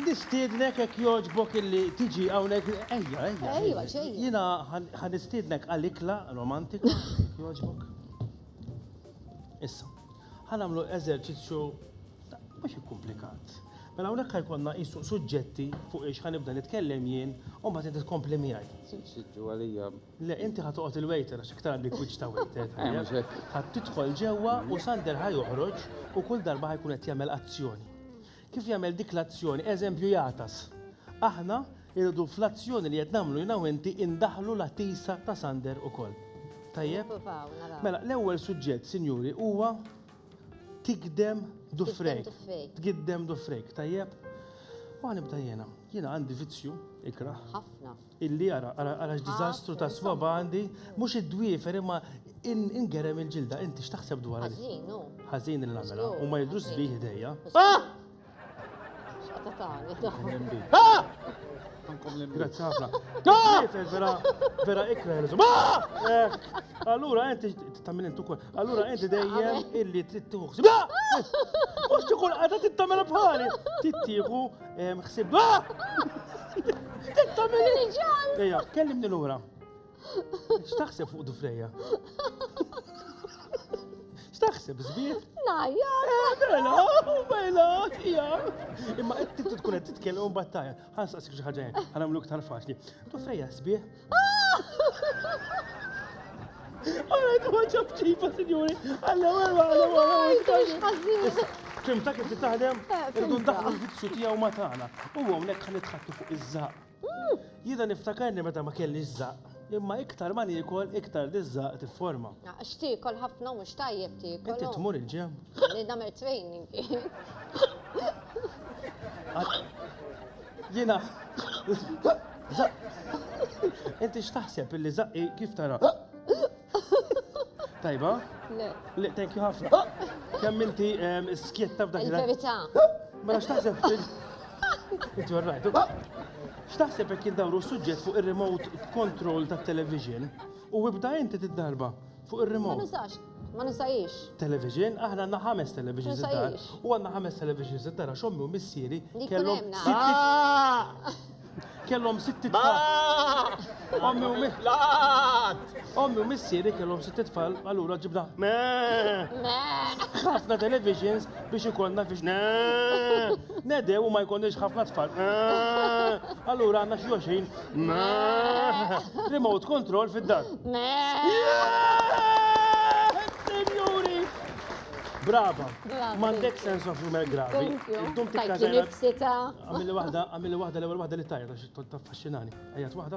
Nistiednek hekk jogħġbok illi tiġi hawnhekk, ejja, ejja, ejja, jiena ħa nistiednek għal ikla romantika, jekk jogħġbok. Issa, ħa nagħmlu eżerċizzju mhux ikkumplikat. Mela hawnhekk ħajkonna qisu suġġetti fuq ix ħa nibda nitkellem jien u mbagħad inti tkompli miegħi. Siġġu għalija. Le, inti ħa toqgħod il-waiter għax iktar għandek wiċċ ta' waiter. Ħa tidħol ġewwa u Sander ħa joħroġ u kull darba ħajkun qed jagħmel azzjoni. Kif jagħmel dik l-azzjoni? Eżempju jagħtas. Aħna irridu fl-azzjoni li qed nagħmlu jiena u inti indaħħlu l-għatisa ta' Sander ukoll. Tajjeb? Nipruvaw, naraw. Mela, l-ewwel suġġett, sinjuri, huwa tigdem dufrejk. dufrejk. Tgiddem dufrejk, tajjeb? U nibda jiena. Jiena għandi vizzju, ikraħ. Ħafna. Illi, ara, ara, ara x'diżastru ta' swaba għandi, mhux id-dwiefer imma ingerem il-ġilda, inti x'taħseb dwarha din? Ħażin hu. Ħażin li nagħmilha, huma jidhru sbieħ idejja. X'qata tagħmel dawn? Grazzi ħafna. Tifel vera vera ikra ħelżu. Eh, allura inti tagħmel intu kol. Allura inti dejjem illi trid tieħu. Mhux tkun qagħda tittamel bħali. Tittieħu Xsib. Ejja, kellimni lura. X'taħseb fuq Dufreja? X'taħseb żbir? Najja. Bella, bella, tija. Imma qed tkun qed titkellem u battajja. Ħansaqsik xi ħaġa ħanamluk tal-faċli. Dufreja żbir? Kim ta' kif taħdem, irdu ndaħlu l-vizzju tiegħu ma tagħna. U hawnhekk ħan nitħattu fuq iż-żaq. Jiena niftakarni meta ma kelli żaq. Imma iktar ma niekol iktar diżżaq tifforma. X'tiekol ħafna mhux tajjeb tiekol. Inti tmur il-ġem. Li nagħmel training. Jiena Inti x'taħseb illi zaqqi kif tara? Tajba? Le. Le, thank you ħafna. Kemm inti ehm, skjetta f'dak il Verità. Mela x'taħseb fil. Inti warrajtu. X'taħseb jekk indawru suġġett fuq ir-remote control tat-television u ibda inti tiddarba. Fuq ir-remote. Ma nużax. Ma nużajiex. Television, aħna għandna ħames televisions id-dar. Ma nużajiex. U għandna ħames televisions id-dar għax ommi u missieri kellhom sitt. Baa! Kellhom sitt tfal. Baa! Ommi u missieri. L-għad! Ommi u missieri kellhom sitt tfal, allura ġibna. Mee! Mee! Ħafna televisions biex ikollna fiex. Mee! Nedew u ma jkollniex ħafna tfal. Mee! Allura għandna xi 20. Remote control fid-dar. Senjuri! Brava! Mandek sense of humor gravi. Dum tikka zajna. Għamilli wahda, għamilli wahda, l-ewel wahda li tajja, ta' faxxinani. Għajat wahda.